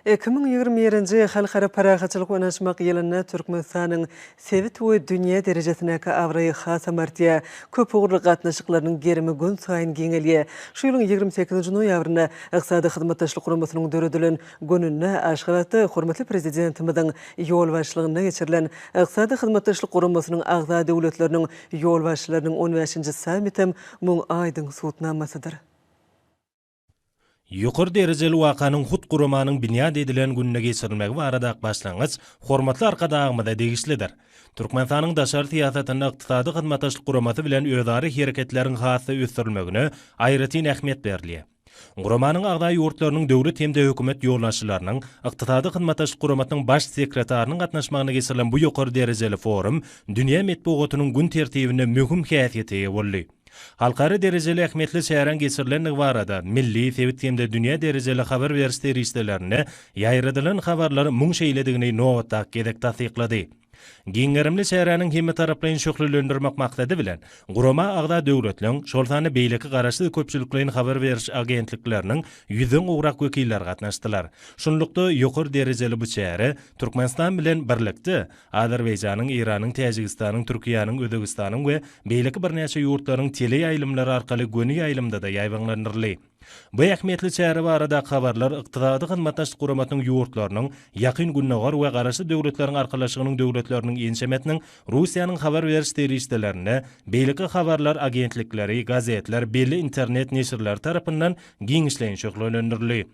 Iki müň ýigrimi birinji Halkara parahatçylyk ynanyşmak ýylynda Türkmenistanyň sebit we dünýä derejesindäki abraýy hasam artýar. Köpugurly gatnaşyklarynyň gerimi günsaýyn giňelýär. Şu ýylyň ýigrimi sekizinji noýabrynda Ykdysady Hyzmatdaşlyk Guramasynyň döredilen gününde Aşgabatda hormatly Prezidentimiziň ýolbaşçylygynda geçirilen Ykdysady Hyzmatdaşlyk Guramasynyň agza döwletleriniň ýolbaşçylarynyň on bäşinji sammitem muň aýdyň subutnamasydyr. Ýokary derejeli wakanyň hut guramanyň binýat edilen gününe geçirilmegi barada başlangyç hormatly Arkadagymyza degişlidir. Türkmenistanyň daşary syýasatynda Ykdysady Hyzmatdaşlyk Guramasy bilen özara hereketleriň has-da ösdürilmegine aýratyn ähmiýet berilýär. Guramanyň agza ýurtlarynyň döwlet hem-de hökümet ýolbaşçylarynyň, Ykdysady Hyzmatdaşlyk Guramasynyň Baş sekretarynyň gatnaşmagynda geçirilen bu ýokary derejeli forum dünýä metbugatynyň gün tertibinde möhüm häsiýete eýe boldy. Halkara derejeli ähmiýetli çäräň geçirilendigi barada milli, sebit hem-de dünýä derejeli habar beriş serişdelerinde ýaýradylan habarlar muň şeýledigini nobatdaky gezek tassyklady. Giň gerimli çäräniň hemmetaraplaýyn şöhlelendirmek maksady bilen, gurama agza döwletleriň, şol sanda beýleki garaşsyz köpçülikleýin habar beriş agentlikleriniň ýüzden gowrak wekilleri gatnaşdylar. Şunlukda, ýokary derejeli bu çäre Türkmenistan bilen birlikde, Azerbaýjanyň, Eýranyň, Täjigistanyň, Türkiýäniň, Özbegistanyň we beýleki birnäçe ýurtlaryň teleýaýlymlary arkaly göni ýaýlymda-da ýaýbaňlandyryldy. Bu ähmiýetli çäre barada habarlar Ykdysady Hyzmatdaşlyk Guramasynyň ýurtlarynyň, Ýakyn Gündogar we Garaşsyz Döwletleriň Arkalaşygynyň döwletleriniň ençemesiniň, Russiýanyň habar beriş serişdelerinde, beýleki habarlar agentlikleri, gazetler, belli internet neşirleri tarapyndan giňişleýin şöhlelendirildi.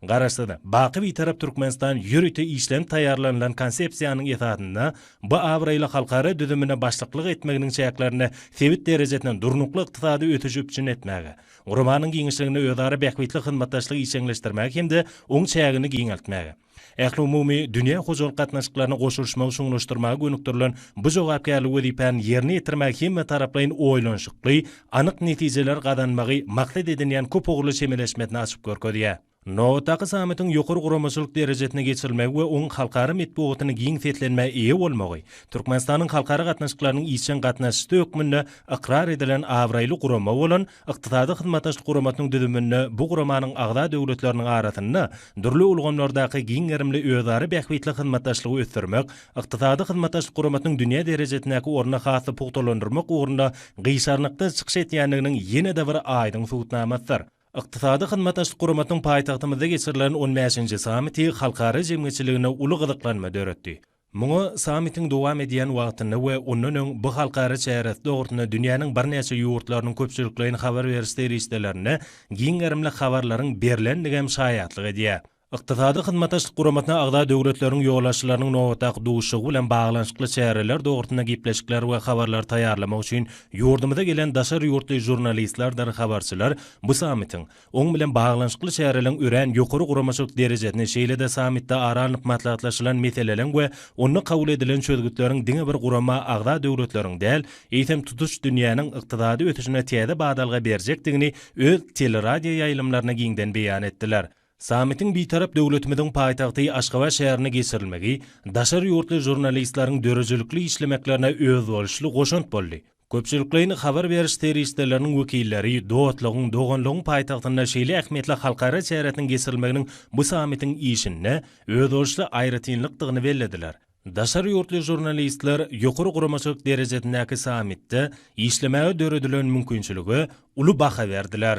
Garaşsyz, baky Bitarap Türkmenistan ýörite işlenip taýýarlanylan Konsepsiýanyň esasynda bu abraýly halkara düzümine başlyklyk etmeginiň çäklerinde sebit derejesinde durnukly ykdysady ösüşi üpjün etmäge, guramanyň giňişliginde özara bähbitli hyzmatdaşlygy işjeňleşdirmäge hem-de oň çägini giňeltmäge, ähliumumy dünýä hojalyk gatnaşyklaryna goşulyşmagy çuňlaşdyrmaga gönükdirilen bu jogapkärli wezipäni ýerine ýetirmäge hemmetaraplaýyn oýlanyşykly, anyk netijeler gazanmagy maksat edinýän köp ugurly çemeleşmesini açyp görkezýär. Nobatdaky sammitiň ýokary guramaçylyk derejesinde geçirilmegi we oň halkara metbugatynyň giň seslenmä eýe bolmagy Türkmenistanyň halkara gatnaşyklarynyň işjeň gatnaşyjysy hökmünde ykrar edilen abraýly gurama bolan Ykdysady Hyzmatdaşlyk Guramasynyň düzüminde bu guramanyň agza döwletleriniň arasynda dürli ulgamlardaky giň gerimli özara bähbitli hyzmatdaşlygy ösdürmek Ykdysady Hyzmatdaşlyk Guramasynyň dünýä derejesindäki ornuny has-da pugtalandyrmak ugrunda gyşarnyksyz çykyş edýändiginiň ýene-de bir aýdyň subutnamasydyr. Ykdysady Hyzmatdaşlyk Guramasynyň paýtagtymyzda geçirilen on bäşinji sammiti halkara jemgyýetçiliginde uly gyzyklanma döretdi. Muňa sammitiň dowam edýän wagtynda we ondan öň bu halkara çäresi dogrusynda dünýäniň birnäçe ýurtlarynyň köpçülikleýin habar beriş serişdelerinde giň gerimli habarlaryň berlendigi hem şaýatlyk edýär. Ykdysady Hyzmatdaşlyk Guramasyna agza döwletleriň ýolbaşçylarynyň nobatdaky duşuşygy bilen baglanyşykly çäreler dogrusynda gepleşikler we habarlary taýýarlamak üçin ýurdumyza gelen daşary ýurtly žurnalistlerdir habarçylar bu sammitiň, oň bilen baglanyşykly çäreleriň örän ýokary guramaçylyk derejesini, şeýle-de sammitde ara alnyp maslahatlaşylan meseleleriň we onda kabul edilen çözgütleriň diňe bir gurama agza döwletleriň däl, eýsem tutuş dünýäniň ykdysady ösüşine täze badalga berjekdigini öz teleradioýaýlymlaryna giňden beýan etdiler. Sammitiň Bitarap döwletimiziň paýtagty Aşgabat şäherinde geçirilmegi daşary ýurtly žurnalistleriň döredijilikli işlemeklerine özboluşly goşant boldy. Köpçülikleýin habar beriş serişdeleriniň wekilleri dostlugyň, doganlygyň paýtagtynda şeýle ähmiýetli halkara çäresiniň geçirilmeginiň bu sammitiň işinde özboluşly aýratynlykdygyny bellediler. Daşary ýurtly žurnalistler ýokary guramaçylyk derejesindäki sammitde işlemäge döredilen mümkinçilige uly baha berdiler.